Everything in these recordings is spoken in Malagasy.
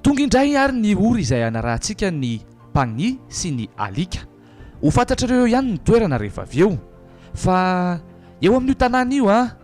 Tonga indray ary ny ora izay hanarahantsika ny Pagny sy ny Alika. Ho fantatrareo eo ihany ny toerana rehefa avy eo. Fa eo amin'io tanàna io an!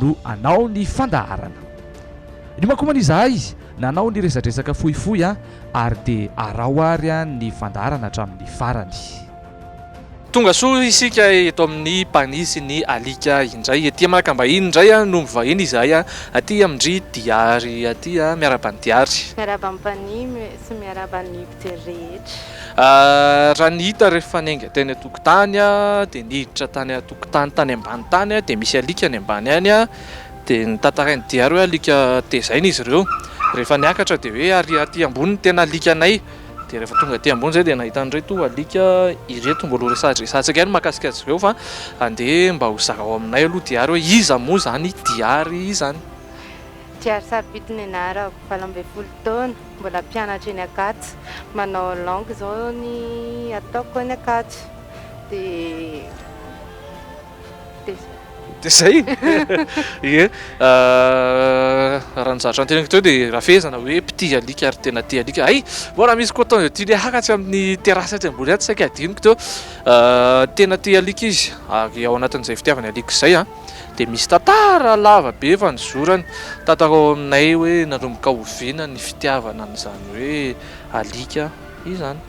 no hanao ny fandaharana. Ny makomana izahay nanao ny resadresaka fohifohy a! ary dia araho ary ny fandaharana hatramin'ny farany. Tonga soa isika eto amin'ny mpanisy ny alika indray ety Manakambahiny indray a! no mivahiny izahay a! aty amin-dry Diary aty a! miarahaba an'i Diary. Miarahaba amin'ny mpanihy. Tsy miarahaba ny mpijery rehetra. Raha ny hita rehefa niainga teny an-tokotany aho dia niditra tany an-tokotany tany ambany tany aho dia misy alika any ambany any dia notantarain'i Diary hoe alika tezaina izy ireo. Rehefa niakatra dia hoe ary aty ambony no tena alikanay dia rehefa tonga aty ambony izay dia nahita an'ireto alika ireto. Mbola ho resaha- resahantsika ihany ny mahakasika azy ireo fa andeha mba ho zarao aminay aloha Diary hoe iza moa izany Diary izany. Diary Sarobidy ny anarako, valo ambin'ny folo taona. Mbola mpianatra eny Ankatso, manao langue izao ny ataoko eny Ankatso, dia dia izay. Dia izay? Ie, raha ny zavatra noteneniko teo dia raha fehezana hoe mpitia alika ary tena tia alika, hay! Mbola misy coton de Tuléar ary atsy amin'ny terrasse atsy ambony atsy saika hadinoko teo, tena tia alika izy ary ao anatin'izay fitiavany alika izay an! dia misy tantara lava be efa nizorany, tantarao aminay hoe nanomboka oviana ny fitiavana an'izany hoe alika izany.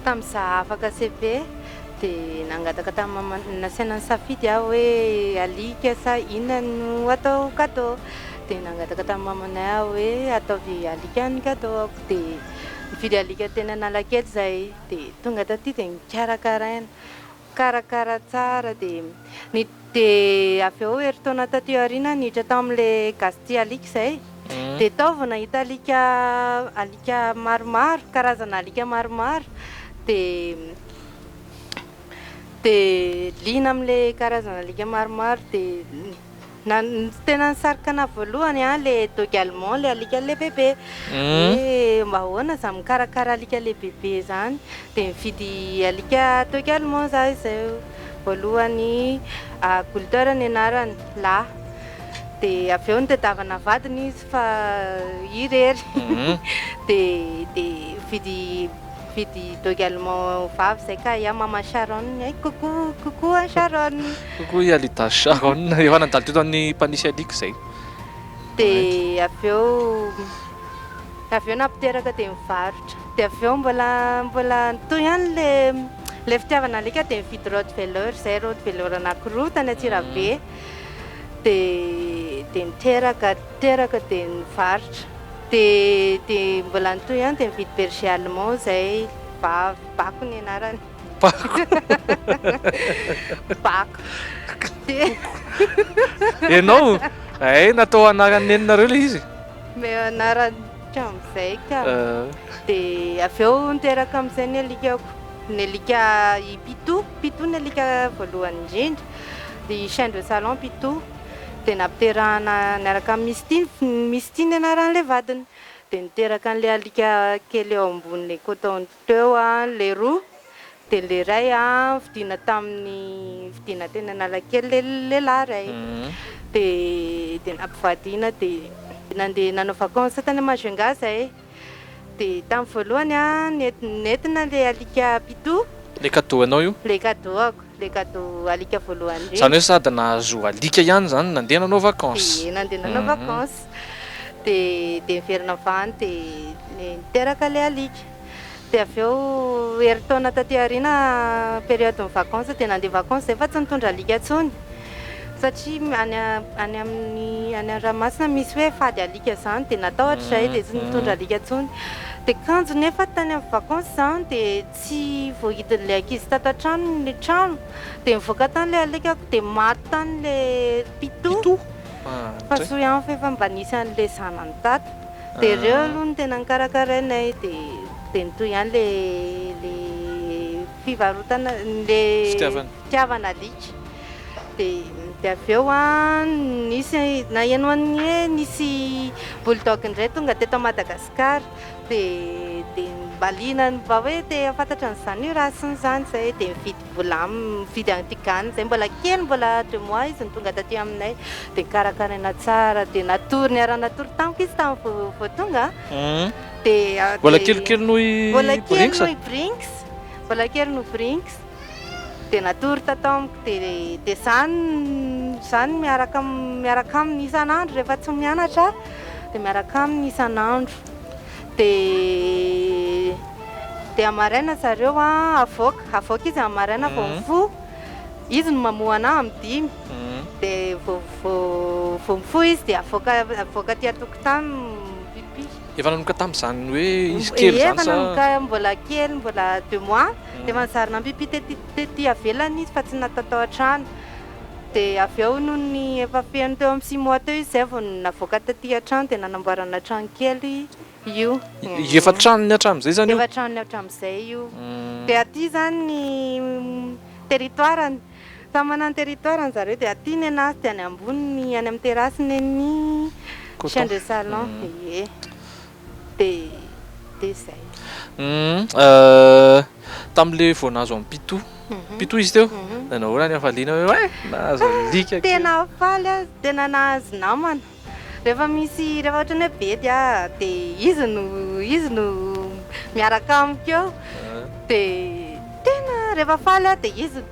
Tamin'ny izaho afaka CP dia nangataka tamin'ny maman, nasiana nisafidy aho hoe alika sa inona no atao cadeau, dia nangataka tamin'ny mamanay aho hoe ataovy alika ny cadeau-ako, dia nividy alika teny Analakely izahay, dia tonga taty dia nikarakaraina, Karakara tsara dia ny dia avy eo herintaona taty aoriana niditra tao amin'ilay Gazety Alika izay dia tao vao nahita alika alika maromaro karazana alika maromaro dia dia liana amin'ilay karazana alika maromaro dia Na ny tena nisarika anah voalohany an le dogue allemand le alika lehibebe hoe mba ahoana za mikarakara alika lehibebe zany de nifidy alika dogue allemand za izay voalohany Goulter ny anarany lahy de avy eo nitadiavana vadiny izy fa irery de de nifidy Mividy doggy allemand ho vavy zay ka ya maman Sharon eh, coucou coucou an Sharon. Coucou i Alida Sharon, efa nandalo teto amin'ny mpanisy alika izay. Dia avy eo avy eo nampiteraka dia nivarotra. Dia avy eo mbola mbola nitohy ihany le le fitiavana alika dia nividy rottweiler izay, rottweiler anankiroa tany Antsirabe. Dia dia niteraka. teraka dia nivarotra dia dia mbola nitohy ihany dia nividy berger allemand izay vavy bako ny anarany Bako. bako dia Ianao? Hay natao anaran'ny neninareo ilay izy. omeo anarany ka amin'izay ka Ah, dia avy eo niteraka amin'izay ny alikako ny alika i pito pito ny alika voalohany indrindra dia chien de salon pito dia nampiterahana niaraka amin'i Misty ny fi, Misty ny anaran'ilay vadiny, dia niteraka an'ilay alika kely eo amboniny coton teo ilay roa, dia ilay iray vidiana tamin'ny vidiana teny Analakely ilay lehilahy iray, dia dia nampivadiana, dia nandeha nanao vacances tany Majunga izahay. Dia tamin'ny voalohany an, nentina ilay alika pitoa. Ilay cadeau anao io? Ilay cadeau ako, ilay cadeau alika voalohany indrindra. Izany hoe sady nahazo alika ihany izany no nandeha nanao vacances? Dia nandeha nanao vacances. Dia niverina avy any dia niteraka ilay alika. Dia avy eo herintaona taty aoriana période ny vacance dia nandeha vacance izay fa tsy nitondra alika intsony satria any any amin'ny any Ramasina misy hoe fady alika izany dia natahotra izahay dia tsy nitondra alika intsony. Dia kanjo nefa tany amin'ny vacance izany dia tsy voahidin'ilay ankizy tato an-trano ny trano dia nivoaka tany ilay alikako dia maty tany ilay pitoa fa soa ihany fa efa mba nisy an'ilay zanany tato. Dia ireo aloha no tena nokarakarainay dia dia nitohy ihany le le fivarotana le Fitiavana. fitiavana alika. Dia dia avy eo an nisy naheno an'ny hoe nisy bulldog indray tonga teto Madagasikara dia dia mba liana mba hoe te hahafantatra an'izany hoe race-ny izany izay dia nividy Mbola mividy an'ity gana izay mbola kely mbola deux mois izy no tonga taty aminay dia nikarakaraina tsara dia natory niara natory tamiko izy tamin'ny vao vao tonga dia mbola kelikely noho i mbola kely noho i Brinx mbola kely noho Brinx dia natory tato amiko dia dia izany izany miaraka miaraka aminy isan'andro rehefa tsy mianatra dia miaraka aminy isan'andro dia maraina ry zareo havoaka, havoaka izy amin'ny maraina vao mifoha, izy no mamoha anah amin'ny dimy, dia vao mifoha izy dia avoaka avoaka aty an-tokotany mipipi. Efa nanomboka tamin'izany hoe izy kely izany sa? Ie, efa nanomboka mbola kely mbola deux mois dia efa nizarina mipipi tety tety ivelany izy fa tsy natao tao an-trano. Dia avy eo nony efa feno teo amin'ny six mois teo izy zay vao navoaka taty an-trano dia nanamboarana trano kely io. Efa tranony hatramin'izay izany io? Efa tranony hatramin'izay io. Dia aty izany ny territoire-ny. Samy manana ny territoire-ny zareo dia aty ny an'azy dia any ambony ny any amin'ny terrasse-ny ny chien de salon. Ie. Dia izay. Tamin'ilay vao nahazo an'i Pito. Pito izy teo? Nahoana ny hafaliana hoe eh! Nahazo alika kely. Tena faly aho, tena nahazo namana. Rehefa misy, rehefa ohatran'ny hoe be dia izy no, izy no miaraka amiko eo. Dia tena, rehefa faly aho dia izy no.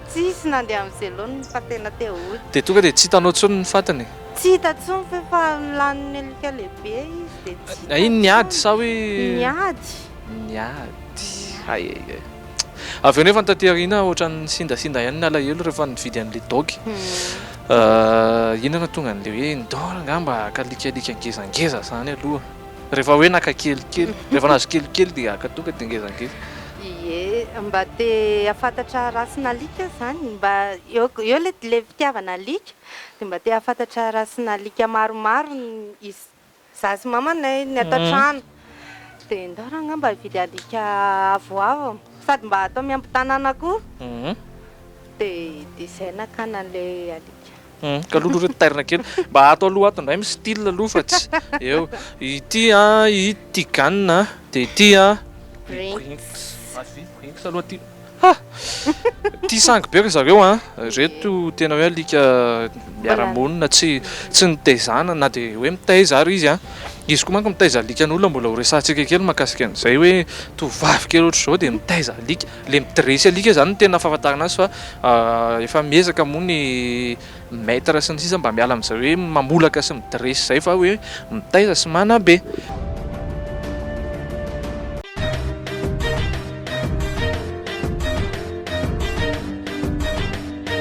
Tsisy nandeha amin'ny veloniny fa tena te hody. Dia tonga dia tsy hitanao intsony ny fatiny? Tsy hita intsony fa efa lanin'ny alika lehibe izy dia tsy hita intsony. Ny ady sa hoe? Ny ady. Ny ady. Ayayay. Avy eo nefa ny taty aoriana ohatran'ny sindasinda ihany ny alahelo rehefa nividy an'ilay dog. Inona no tonga an'ilay hoe ny dog angamba ka alikalika ngezangeza izany aloha. Rehefa hoe naka kelikely, rehefa nahazo kelikely dia haka tonga dia ngezangeza. Ie, mba te hahafantatra rasin'alika aho izany, mba eo eo le le fitiavana alika, dia mba te hahafantatra rasin'alika maromaro ny izaho sy mamanay ny ato an-trano, dia ndao raha angaha mba hividy alika avoavo sady mba atao miambi-tanàna koa, dia dia izay nakana an'ilay alika. Humm ka lolo reto tairina kely mba ato aloha ato indray mi-style aloha fa tsy eo ity a i Tigan a dia ity a Brinks Azia Brinks aloha ity ha tia sangy be ry zareo a reto tena hoe alika miara-monina tsy tsy nitezana na dia hoe mitaiza ary izy a izy koa manko mitaiza alikan'olona mbola ho resahantsika kely mahakasika an'izay hoe tovovavy kely ohatr'izao dia mitaiza alika Le midresy alika zany no tena fahafantarana azy fa efa miezaka moa ny maître sy ny sisa mba miala amzay hoe mamolaka sy midresy zay fa hoe mitaiza sy manabe.